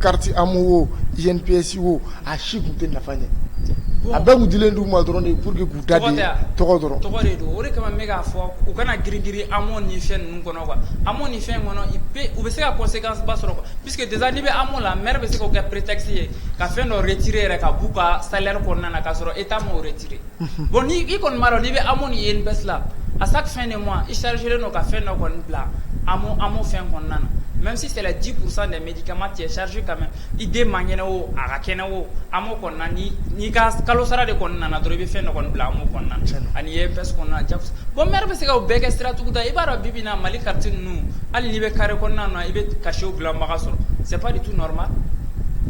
Carte AMO o INPS o a si tun tɛ nafa ɲɛ, bon a bɛɛ tun dilen d'u ma dɔrɔn de pour que k'u ta di, tɔgɔ tɛ wa, tɔgɔ dɔrɔn, tɔgɔ de don, o de kama n bɛ k'a fɔ u kana girin-girin AMO ni fɛn ninnu kɔnɔ quoi, AMO ni fɛn kɔnɔ il peut u bɛ se ka conséquence ba sɔrɔ quoi, puisque déjà n'i bɛ AMO la maire bɛ se k'o kɛ prétexte ye ka fɛn dɔ retirer yɛrɛ ka b'u ka salaire kɔnɔna na k'a sɔrɔ Etat m'o retirer, unhun, bon ni i kɔni b'a dɔn n'i bɛ AMO ni INPS la à chaque fin de mois i charger len don ka fɛn dɔ kɔni bila AMO AMO fɛn kɔnɔna na, même si c'est les 10 pourcent des médicaments tu es chargé quand même i den man kɛnɛ o a ka kɛnɛ o AMO n'i ka kalo sara de kɔnɔna nana dɔrɔn i bɛ fɛn dɔ bila AMO kɔnɔna ani INPS kɔnɔna na bon maire bɛ se k'o bɛɛ kɛ sira tuguda i b'a dɔn bi bi in na Mali quartier ninnu hali n'i bɛ carré kɔnɔna na i bɛ cachet dilanbaga sɔrɔ c'est pas du tout normal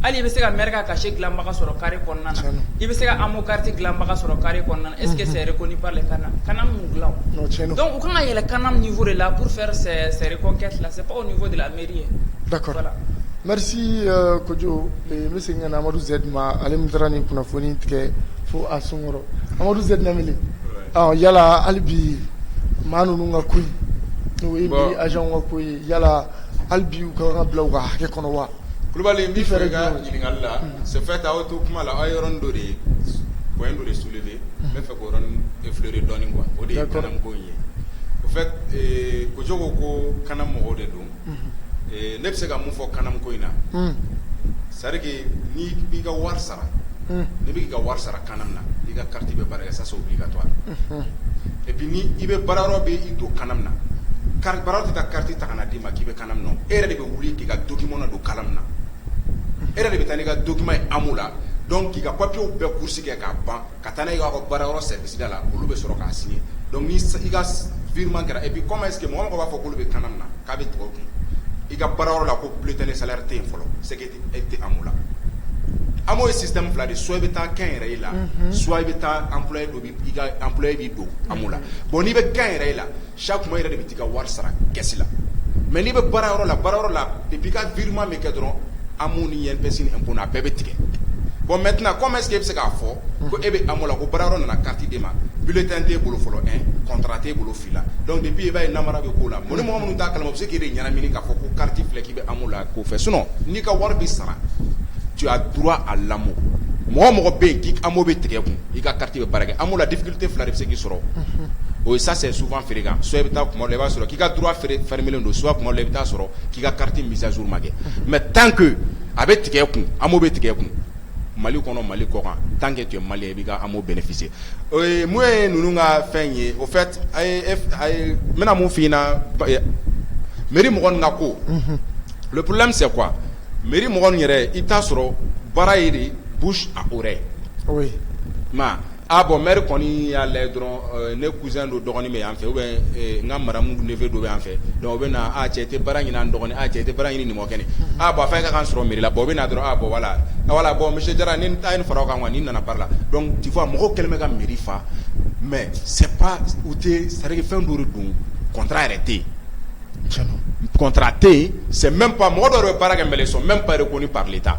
hali i bɛ se ka maire ka cachet dilanbaga sɔrɔ carré kɔnɔna i bɛ se ka AMO carte dilanbaga sɔrɔ carré kɔnɔna est-ce que c'est reconnu kanam m'u dilan u ka kan ka yɛlɛ kanam niveau de la pour faire enquête la de la D'accord merci kojo n bɛ segin ka na amadu z ma ale min taara nin kunnafoni tigɛ fo a sunkɔrɔ amadu z namili yala ali bi maa ninnu ka ko n'o ye mairie agent ka ko ye yala ali bi u ka bila u ka hakɛ kɔnɔ wa kulubali bɛ fɛ ka ɲininkali la c'est fait aw to kuma la aw yɔrɔ dɔ de ye point dɔ de soulever fri dɔɔnin kuwa o de ye kalan ko ye o fɛ kogo ko ko kana mɔgɔw de don ne bɛ se ka mun fɔ kana ko in na sarike ni b'i ka wari sara ne bɛ' ka wari sara kan na i ka kari bɛ baara sa b'i ka to bi ni i bɛ baara yɔrɔ bɛ don kana na kari tɛ ka kari ta kana d'i ma k'i bɛ kana na e yɛrɛ de bɛ wuli k'i ka dukima min na don kala na e yɛrɛ de bɛ taa n'i ka dukima ye a la dɔn k'i ka papiw bɛɛ ku kɛ k'a ban ka taa n'a ka baara yɔrɔ sɛsida la olu bɛ sɔrɔ k'a sigi i ka vma kɛra i kɔma ese mɔgɔ b'a fɔ olu bɛ kan na k'a bɛ dugawu kun i ka baara yɔrɔ la ko bilen tɛ ni sa tɛ yen fɔlɔ sɛ e tɛ an la an ye sisan tan fila de so i bɛ taa kɛ yɛrɛ i la su i bɛ taa an don i ka anla b'i don an la bɔn n'i bɛ kɛ yɛrɛ i la Sa kuma yɛrɛ de bɛ ka wari sara kɛsi la mɛ n'i bɛ bara yɔrɔ la bara yɔrɔ la i bi ka giirima min kɛ dɔrɔn an minnu ni ɲɛ bɛsin a bɛɛ bɛ tigɛ bɔn mɛt kɔmɛ e bɛ se k'a fɔ ko e bɛ a la ko bara yɔrɔ nana kati de ma bi tɛ t'e bolo fɔlɔ kɔntara t'e bolo fili la dɔnku de bi e' ye nara bɛ k'o la ko ni mɔgɔ minnu ta kala u bɛ se k'i de ɲɛnaini k'a fɔ ko kati filɛ k'i bɛ la k'o fɛ sun n'i ka wari bɛ sara tu du a lamɔ mɔgɔ mɔgɔ bɛ yen k' bɛ tigɛ kun i ka kati bɛ bara kɛ la Tɛ fila bɛ se sɔrɔ o ye sa su feere kan so bɛ taa i b'a sɔrɔ k'i ka feere kelen don su i bɛ taa sɔrɔ k'i ka kari miz ma kɛ mɛ tan ke a bɛ tigɛ kun an bɛ tigɛ kun mali kɔnɔ mali kɔ kan tan ke mali i bɛfise n'o ye ninnu ka fɛn ye o n bɛna min fɔ na miri m na ko porola se qu mi m yɛrɛ i t'a sɔrɔ baara ye de A bɔn m kɔni y'a la dɔrɔn ne kun don dɔgɔnin bɛ yan fɛ bɛ n ka mara minnu ne fɛ don yan fɛ dɔw bɛ na cɛ tɛ bara ɲinin dɔgɔnin a cɛ tɛ bara ɲini mɔgɔ kɛnɛ a bɔn a fɛn ka' sɔrɔ mila bɔ bɛ na dɔrɔn a bɔ wala wala bɔn misi diyara ni taa in fara kan ni nana la dɔn tɛ fɔ a mɔgɔw kɛlen bɛ ka mi faa mɛ sɛ u tɛ sariki fɛn duuru don kɔnta yɛrɛ tɛ yen kɔnta tɛ yen sɛ mɛ mɔgɔ dɔw bɛ baara kɛ m sɔn mɛ ba de ko ni pali ta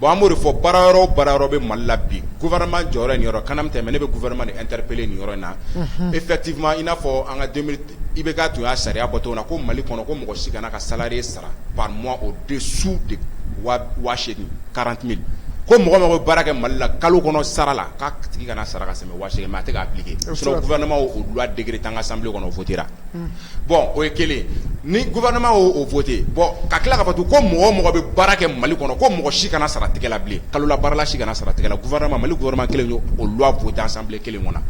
Bon an b'o de fɔ baara yɔrɔ o baara yɔrɔ bɛ Mali la bi gouvernement jɔyɔrɔ ye nin yɔrɔ ye, Canam tɛ mais ne bɛ gouvernement de interpeller nin yɔrɔ in na, unhun, effectivement i n'a fɔ an ka 2000 IBK tun y'a sariya bɔ cogo min na ko Mali kɔnɔ ko mɔgɔ si kana ka salarié sara par mois au dessous de 8000 40000 ko mɔgɔ o mɔgɔ bɛ baara kɛ Mali la kalo kɔnɔ sara la k'a tigi kana sara ka tɛmɛ 8000 kan mais a tɛ k'a appliquer sinon gouvernement y'o loi décret ta an ka assemblée kɔnɔ o voter ra Bon o ye kelen ni gouvernement y'o voté bon ka tila ka fɔ ko mɔgɔ o mɔgɔ bɛ baara kɛ mali kɔnɔ ko mɔgɔ si kana sara tigɛ la bilen kalola baarala si kana sara tigɛ la gouvernement mali gouvernement kelen y'o loi voté assemblée kelen kɔnɔ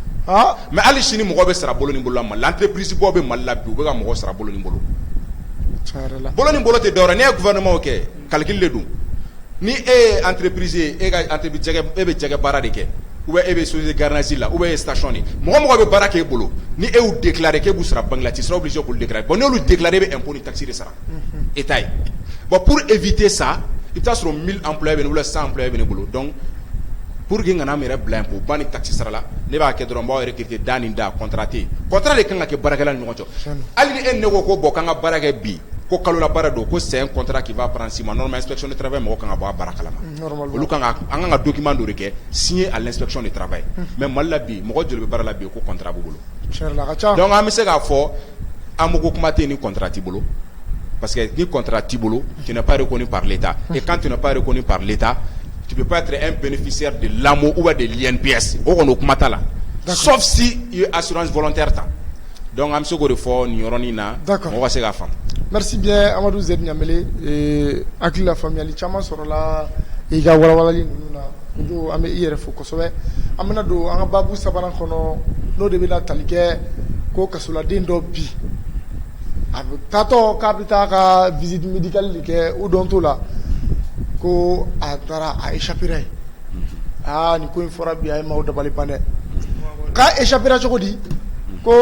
mais hali sini mɔgɔ bɛ sara bolo ni bolo la mali la entreprise baw bɛ mali la bi u bɛ ka mɔgɔ sara bolo ni bolo bolo ni bolo tɛ dɔrɔn ne ye gouvernement o kɛ calcul de don ni e ye entreprise ye e bɛ jɛgɛ baara de kɛ ou bien e bɛ société gardiennage la ou bien e ye station de ye mɔgɔ o mɔgɔ bɛ baara k'e bolo ni e y'u déclaré k'e b'u sara banque la tu seras obligé k'olu déclaré bon n'olu déclaré e bɛ impôt ni taxe de sara Etat ye bon pour éviter ça i bɛ t'a sɔrɔ 1000 employés bɛ ne bolo 100 employés bɛ ne bolo donc pour que n kana n yɛrɛ bila impôt ba ni taxe sara la ne b'a kɛ dɔrɔn n b'aw recruter da ni da contrat tɛ yen contrat de ka kan ka kɛ baarakɛla ni ɲɔgɔn cɛ hali ni e ni ne ko ko bon k'an ka baara kɛ bi ko kalola baara don ko c'est un contrat qui va prendre 6 mois normalement inspection du travail mɔgɔ ka kan ka bɔ a baara kalama. Olu kan an ka dukima don kɛ si ye ale sɔn ni taba ye mɛ mali la bi mɔgɔ joli bɛ baara la bi ko kɔnta bolo an bɛ se k'a fɔ an mako kuma tɛ ni kɔntati bolo parce que ni kɔntara t'i bolo tɛnɛpri kɔni pale ta i kan tɛpri kɔni pale ta tibi e bɛnfisiya de lamɔ u de lɛnpsi o kɔni o kuma ta la sɔsi i ye a sɔrɔsi fɔlɔtɛ ta Donc an bɛ se k'o de fɔ nin yɔrɔnin na mɔgɔ ka se k'a faamu merci bien Amadou Z Ɲamele hakilila faamuyayali caman sɔrɔla i ka walawalali ninnu na Kojo an bɛ i yɛrɛ fo kosɛbɛ an bɛna don an ka baabu sabanan kɔnɔ n'o de bɛna tali kɛ ko kasoladen dɔ bi a bɛ taatɔ k'a bɛ taa ka visite médicale de kɛ odonto la ko a taara a échappera ye aa nin ko in fɔra bi a ye maaw dabali ban dɛ k'a échappera cogo di ko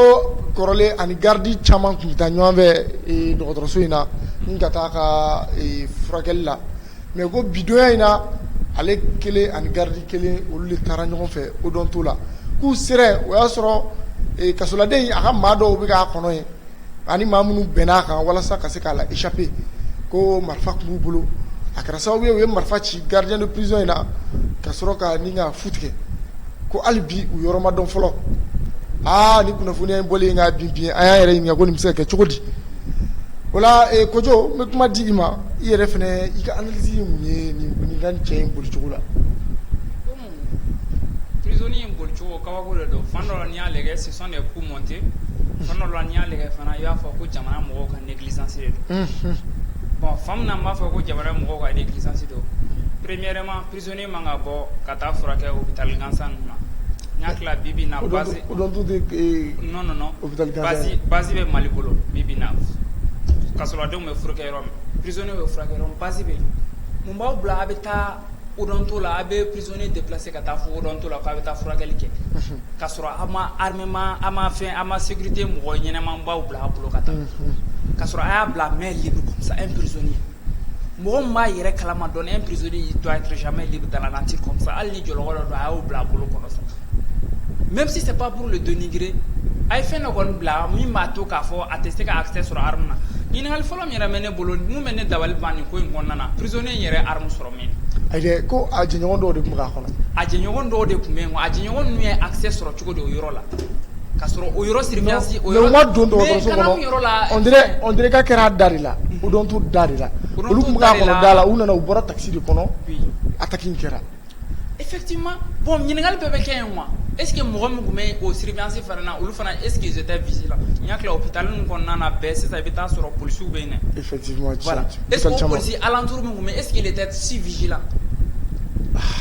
kɔrɔlen ani garde caman tun bɛ taa ɲɔgɔn fɛ dɔgɔtɔrɔso in na ni ka taa ka furakɛli la mais ko bi donya in na ale kelen ani garde kelen olu de taara ɲɔgɔn fɛ odonto la k'u sera yen o y'a sɔrɔ kasoladen in a ka maa dɔw bɛ k'a kɔnɔ yen ani maa minnu bɛnn'a kan walasa ka se k'a la échapper ko marifa tun b'u bolo a kɛra sababu ye u ye marifa ci gardien de prison in na ka sɔrɔ ka ni ka fuite kɛ ko hali bi u yɔrɔ ma dɔn fɔlɔ aa ni kunnafoniya in bɔlen ka bin bin an y'an yɛrɛ ɲininka ko nin bɛ se ka kɛ cogo di o la eh, Kojo n bɛ kuma di i ma i yɛrɛ fana i ka analyse ye mun ye nin nin ka nin cɛ in bolicogo la. prisonnier in bolicogo kabako de don fan dɔ la n'i y'a lajɛ ce sont des coups montés fan dɔ la n'i y'a lajɛ fana i b'a fɔ ko jamana mɔgɔw ka négligence de don bon fan min na n b'a fɔ ko jamana mɔgɔw ka négligence don premièrement prisonnier man ka bɔ ka taa furakɛ hôpital gansan ninnu na n y'a tila bibi na base base bɛ mali bolo bibi na kasoladenw bɛ furakɛ yɔrɔ min prisonnier bɛ furakɛ yɔrɔ min base bɛ mun b'aw bila a bɛ taa oto la a bɛ psɔnoni de bilase ka taa fɔto la k'a bɛ taa furakɛli kɛ ka sɔrɔ a ma hama a ma fɛ a ma sete mɔgɔ ɲɛnaɛnɛmabaw bila a bolo ka taa ka sɔrɔ a y'a bila mɛ sa e psɔnoni mɔgɔ b'a yɛrɛ kalama dɔn e psɔnoni to mɛ bɛ taa n' tɛ kɔ hali ni jɔ dɔ don a y'o bila a bolo kɔnɔ sa mɛ bɛ se tɛ bapuru de don g a ye fɛn dɔ kɔni bila min b'a to k'a fɔ a tɛ se k' a sɔrɔ hama ɲininkakali fɔlɔ yɛrɛ bolo min bɛ ne dabali ban nin ko in kɔnɔna na prisonnier in yɛrɛ arme sɔrɔ min? Ayi ko a jɛɲɔgɔn dɔw de tun bɛ k'a kɔnɔ, a jɛɲɔgɔn dɔw de tun bɛ yen, a jɛɲɔgɔn ninnu ye accès sɔrɔ cogo di o yɔrɔ la? ka sɔrɔ o yɔrɔ surveillance o yɔrɔ, mais u ma don dɔgɔtɔrɔso kɔnɔ, on dirait on dirait k'a kɛra da de la, odonto da de la, olu tun bɛ k'a kɔnɔ da la, u nana u bɔra taxi de kɔnɔ, oui, attaque in kɛra E bɔn ɲininkakali bɛɛ bɛ kɛ yen wa e sigi mɔgɔ min tun bɛ yen o siribisi fana na olu fana e sigise tɛ vsi la n ɲa tila o bɛ taa min kɔnɔna bɛɛ sisan i bɛ taa sɔrɔ psiw bɛ yen e psi ala duuruuru min bɛ e sigi de tɛ si vsi la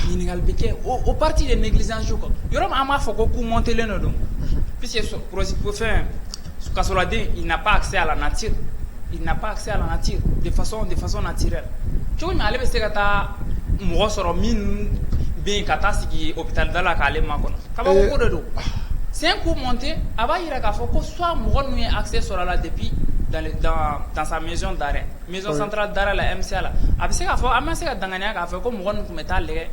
ɲininkakali bɛ kɛ o pati ye nelizsi kan yɔrɔ an b'a fɔ ko ko mɔntelen dɔ don p que sɔrɔsi ko fɛn kasoladen il n'a pas accès à la nature il n'a pas accès à la nature de façon de façon naturelle cogo jumɛn ale bɛ se ka taa mɔgɔ sɔrɔ min bɛ yen ka taa sigi hôpital da la k'ale makɔnɔ kabako ko de don c'est un coup monté a b'a jira k'a fɔ ko soit mɔgɔ ninnu ye accès sɔrɔ a la depuis dans le dans dans sa maison d'arrêt maison centrale d'arrêt la MCA la a bɛ se k'a fɔ an ma se ka danganiya k'a fɔ ko mɔgɔ ninnu tun bɛ taa lajɛ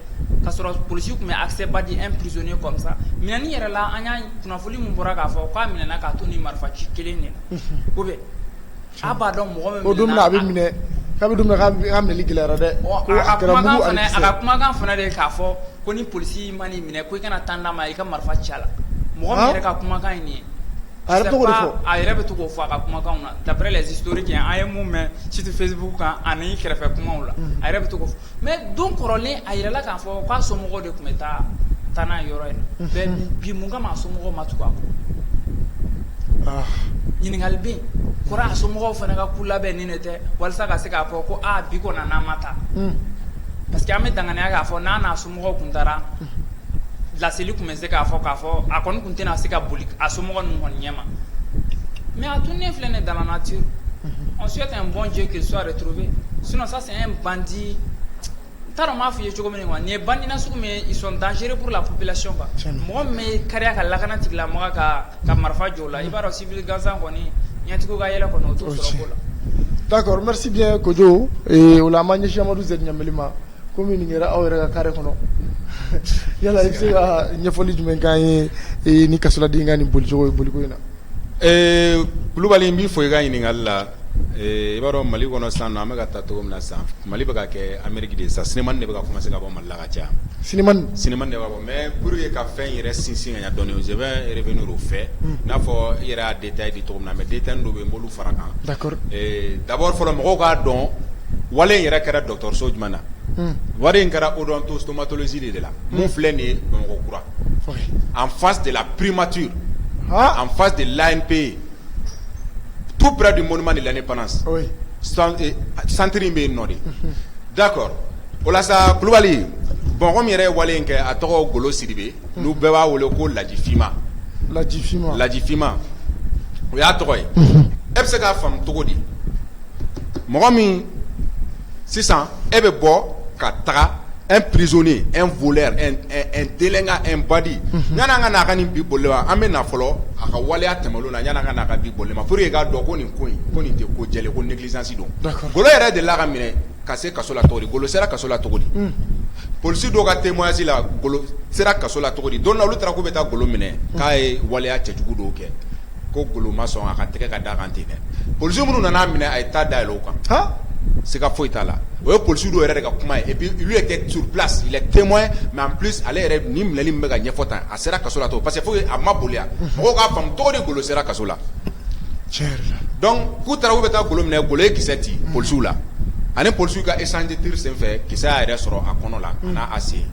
ka sɔrɔ policiers tun bɛ accès ba di un prisonnier comme ça minɛni yɛrɛ la an y'a Foni min bɔra k'a fɔ k'a minɛna k'a to ni marifa ci kelen de la ou bien a b'a dɔn mɔgɔ min o don min na a bɛ minɛ k'a don min na k'a minɛli gɛlɛyara dɛ a ka kumakan fana de k'a fɔ ko ni polisi mana i minɛ ko i kana temps d'a ma i ka marifa ci a la mɔgɔ min yɛrɛ ka kumakan ye nin ye a yɛrɛ bɛ to k'o fɔ a ka kumakan na d'après les historiques an ye min mɛn surtout Facebook kan ani kɛrɛfɛ kumaw la a yɛrɛ bɛ to Mais don kɔrɔlen a yirala k'a fɔ k'a somɔgɔw de tun bɛ taa taa n'a yɔrɔ in na bi mun kama a somɔgɔw ma tugu a kɔ ɲininkali bɛ nin kɔrɔ a somɔgɔw fana ka coup labɛnnen de tɛ walasa ka se k'a fɔ ko bi kɔni n'an ma taa parce que an bɛ danganiya k'a fɔ n' Mɔgɔ tun taara laseli tun bɛ se k'a fɔ k'a fɔ a kɔni tun tɛna se ka boli a so mɔgɔ ninnu kɔni ɲɛma mɛ a tun ne filɛ ne dalalamaci an su ka n bɔ jɛ ke suwa de tubi sunɔ sa sɛgɛn bandi n taara m'a fɔ i ye cogo min wa nin ye bangina sugu min sɔn danseerepuru la plasi kan mɔgɔ bɛ kari ka lakana tigila mɔgɔ ka ka marifa jɔ la i b'a dɔn sibi gansan kɔni ɲɛtigiw ka yɛlɛ kɔnɔ o to la dakɔrɔmasi kojo o la a ma ɲɛsimaduse ɲagali ma kɔmi nin kɛra aw yɛrɛ ka carré kɔnɔ yala i bɛ se ka ɲɛfɔli jumɛn k'an ye e, ni kasoladen ka nin bolicogo ye boliko in na ee eh, kulubali n b'i fo i ka ɲininkali la eh, i b'a dɔn mali kɔnɔ sisan nɔ an bɛ ka taa cogo min na sisan mali bɛ ka kɛ ameriki de ye sisan cinéma de bɛ ka commencer ka bɔ mali la ka caya cinéma cinéma de bɛ ka bɔ mais pour que ka fɛn yɛrɛ sinsin ka ɲɛ dɔɔni je vais revenir au fait hmm. n'a fɔ i yɛrɛ y'a détail di cogo min na mais détail dɔ bɛ yen n b'olu fara kan d'abord fɔlɔ mɔgɔw k'a dɔn wale in yɛrɛ kɛra dɔgɔtɔrɔso jumɛn na wale in kɛra odontostomatologie de la min filɛ nin ye bamakɔ kura en face de la primature en face de l'anpe tout près du monument de l'indépendance centre in bɛ yen nɔ de d'accord o la sa kulubali bon mɔgɔ min yɛrɛ ye wale in kɛ a tɔgɔ golo sidibe n'u bɛɛ b'a wele ko lajifima lajifima o y'a tɔgɔ ye e bɛ se k'a faamu cogo di mɔgɔ min sisan e bɛ bɔ ka taga un prisonnier un voleur un délinquant un bandit yan'an ka n'a ka nin bi boli ma an bɛ na fɔlɔ a ka waleya tɛmɛlen na yan'an ka n'a ka bi boli ma pour que i k'a dɔn ko nin ko in ko nin tɛ ko jɛlen ko négligence don golo yɛrɛ delila ka minɛ Ka se kaso la cogo di golo sera kaso la cogo di unhun police dɔw ka témoignage la golo sera kaso la cogo di don dɔ la olu taara k'u bɛ taa golo minɛ unhun k'a ye waleya cɛjugu dɔw kɛ ko golo ma sɔn a ka tɛgɛ ka d'a kan ten dɛ police minnu nan'a minɛ a ye ta dayɛlɛ u kan han siga foyi t'a la o ye police dɔw yɛrɛ de ka kuma ye et puis lui était sur place il est témoin mais en plus ale yɛrɛ nin minɛli min bɛ ka ɲɛfɔ tan a A sera kaso la parce que fo a ma boli mɔgɔw k'a faamu cogo di golo sera kaso la donc k'u taara k'u bɛ taa golo minɛ golo ye kisɛ ci polisiw la ani polisiw ka échange de tir senfɛ kisɛ y'a yɛrɛ sɔrɔ a kɔnɔ la an'a sen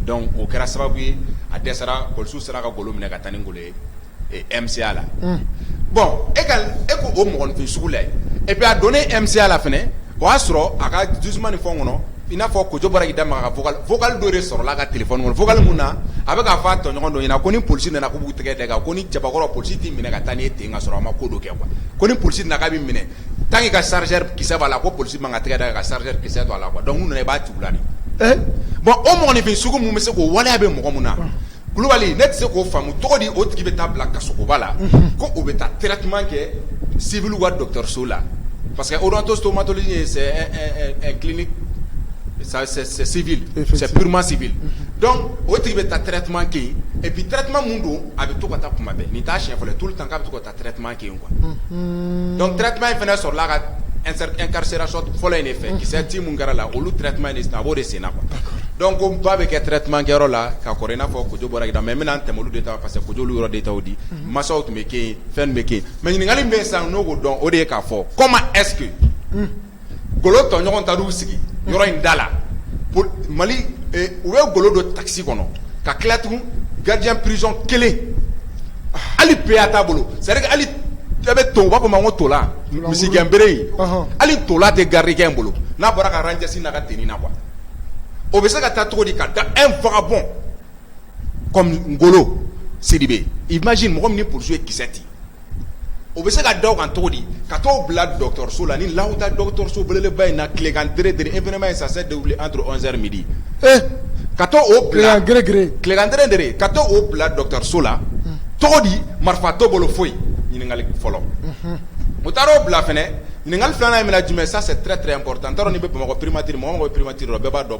donc o kɛra sababu ye a dɛsɛra polisiw sera ka golo minɛ ka taa ni golo ye mca la bon e ko o mɔgɔninfin sugu la et puis a donnen mca la fɛnɛ o y'a sɔrɔ a ka jugement ni fɛnw kɔnɔ I n'a fɔ koda dɔw sɔrɔ ka tile min na a bɛ fɔ a tɔɲɔgɔn dɔ ɲɛna ko ni poli nana k'u tɛgɛ dɛ kan ko ni cɛbakɔrɔ poli tɛ minɛ ka taa n' ten ka sɔrɔ a ma ko don kɛ kuwa ko ni poli na bɛ minɛ tan ka sari ki b'a la ko poli man ka tɛgɛ da ka sari ki a la b'a la bɔn o mɔgɔninfin sugu min bɛ se ko waleya bɛ mɔgɔ min na Kulubali ne tɛ se k'o faamu tɔgɔ di o tigi bɛ taa bila kasogoba la ko o bɛ taa kira tun kɛ sibi ka dɔnkiliso la parce que otɔ somatɔli ye sɛbimasibi o tigi bɛ taa ttima kɛ yen ɛ bi ttima min don a bɛ to ka taa kuma bɛn nin taa sɛfɛ tu tan k' bɛ to taa a tun dɔnku tuma in fana sɔrɔla ka kari fɔlɔ in de fɛ kisɛ te min kɛra la olu tun a b'o de sen na dɔn ko ba bɛ kɛ tɛrɛ tumakɛ la ka kɔrɔ n'a fɔ kojugu bɔra da mɛ bɛna tɛmɛ de ta parce que kojugu yɔrɔ de ta di mansaw tun bɛ ke fɛn bɛ ke mɛ ɲininkakali bɛ san n'o ko dɔn o de ye k'a fɔ kɔ ma ɛsseke golo tɔɲɔgɔn taar'u sigi yɔrɔ in da la mali u bɛ golo don takisi kɔnɔ ka tila tugun gardien prison kelen hali PA t'a bolo c'est à dire que hali e bɛ to u b'a fɔ ma ko tola misigɛnbere yen hali tola tɛ gardikɛ in bolo n'a bɔra ka rangers n'a ka tenue na quoi o bɛ se ka taa cogo di ka da un vagabond comme golo sidibe imagine mɔgɔ min ni polisiw ye kisɛ ci o bɛ se ka da o kan cogo di ka t'o bila dɔgɔtɔrɔso la ni l'odonto dɔgɔtɔrɔso beleba in na tilegan dɛrɛ événement in ça s'est déroulé entre onze heures midi ka taa o bila tilegan dɛrɛ ka taa o bila dɔgɔtɔrɔso la cogo di marifa t'o bolo foyi ɲininkali fɔlɔ o taara o bila fana ɲininkali filanan in minɛ jumɛn ça c'est très très important n t'a dɔn n'i bɛ bamakɔ primature mɔgɔ mɔgɔ primature bɛɛ b'a dɔn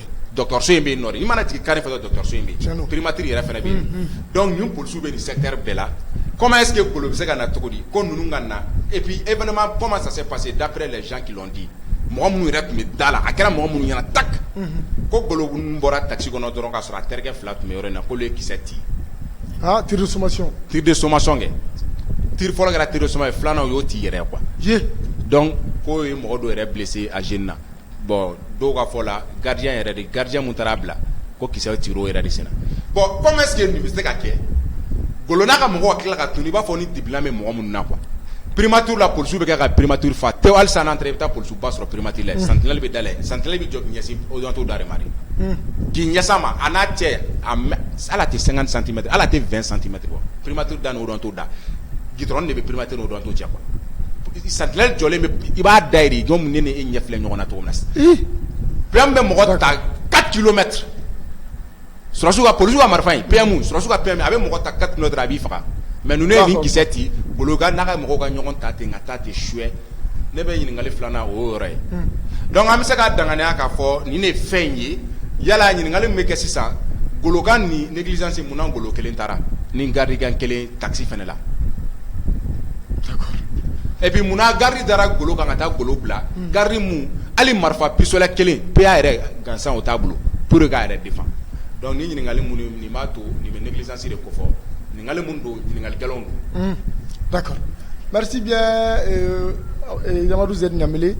dɔgɔtɔrɔso in bɛ yen nɔ i mana jigin carré fɛn o fɛn fɛ dɔgɔtɔrɔso in bɛ yen, tiɲɛn don, primature yɛrɛ fana bɛ yen, unhun, donc nin polisiw bɛ nin secteur bɛɛ la comment est ce que golo bɛ se ka na cogo di ko ninnu ka na et puis événement comment ça s'est passé d'après les gens qui l'ont dit mɔgɔ minnu yɛrɛ tun bɛ da la a kɛra mɔgɔ minnu ɲɛna tak ko golo ninnu bɔra taxi kɔnɔ dɔrɔn k'a sɔrɔ a terikɛ fila tun bɛ yɔrɔ in na k'olu ye kisɛ ci, aa tir de sommation, tir de sommation kɛ, tir fɔlɔ kɛra tir de sommation ye filanan u y'o ci yɛrɛ quoi, ye, donc k'o ye mɔgɔ dɔ yɛrɛ blesser a sen na bɔn dɔw ka fɔ la gari yɛrɛ de gari min taara' bila ko ki ci o yɛrɛ de sen bɔn ko sigi nin bɛ se ka kɛ golola ka mɔgɔ tila ka tun i b'a fɔ ni dibi bɛ mɔgɔ min na qu perema ttu la psiw bɛ kɛ ka perematu faa te wali san i bɛ taa psu ba sɔrɔ peremati la sanli bɛ da sanli bɛ jɔto da ma k'i ɲɛ ma a n'a cɛ ala tɛ san santimɛ ala tɛ santimɛ perematu dan o dɔn' da dɔrɔn de bɛ peremate sentinelle jɔlen i b'a da i jɔn ne ni e ɲɛ filɛ ɲɔgɔn na cogo min na PM bɛ mɔgɔ ta quatre kilomètres sɔrɔdasiw ka polisiw ka marifa in PM sɔrɔdasiw ka PM a bɛ mɔgɔ ta quatre kilomètres a b'i faga mais ninnu ye kisɛ ci golo n'a ka mɔgɔw ka ɲɔgɔn ta ten ka taa ten suyɛ ne bɛ ɲininkali filanan o y'o yɔrɔ ye donc an bɛ se k'a dankeneya k'a fɔ nin de ye fɛn in ye yala ɲininkali min bɛ kɛ sisan golo kan nin négligence munna golo kelen taara ni garidi kelen takisi fana la et puis munna garidi dara golo kan ka taa golo bila garidi min hali marifa pistolet kelen PA yɛrɛ gansan o t'a bolo pour k'a yɛrɛ défendre donc ni ɲininkali minnu nin b'a to nin bɛ négligence de kofɔ ɲininkali minnu don ɲininkali gɛlɛn don d'accord merci bien yamadou z ɲamele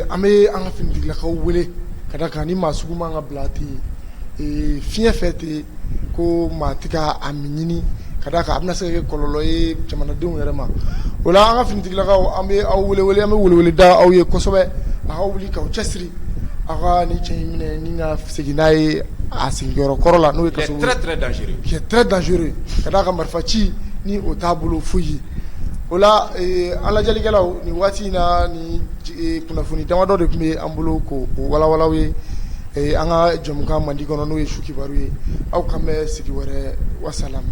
an bɛ an ka finitigilakaw wele ka da kan ni maa sugu man kan ka bila ten fiɲɛ fɛ ten ko maa tɛ ka a min ɲini ka d'a kan a bɛna se ka kɛ kɔlɔlɔ ye jamanadenw yɛrɛ ma o la an ka finitigilakaw an bɛ aw wele an bɛ welewele da aw ye kosɛbɛ aw ka wuli k'aw cɛsiri aw ka nin cɛ in minɛ ni ka segin n'a ye a sigiyɔrɔ kɔrɔ la n'o ye kaso très très dangereux qui est très dangereux ka d'a kan marifa ci ni o t'a bolo foyi ye o la an lajɛlikɛlaw nin waati in na nin kunnafoni damadɔ de tun bɛ an bolo k'o walawala aw ye Ee an ka jɛmukan mandi kɔnɔ n'o ye su kibaru ye aw k'an bɛn sigi wɛrɛ wasalamu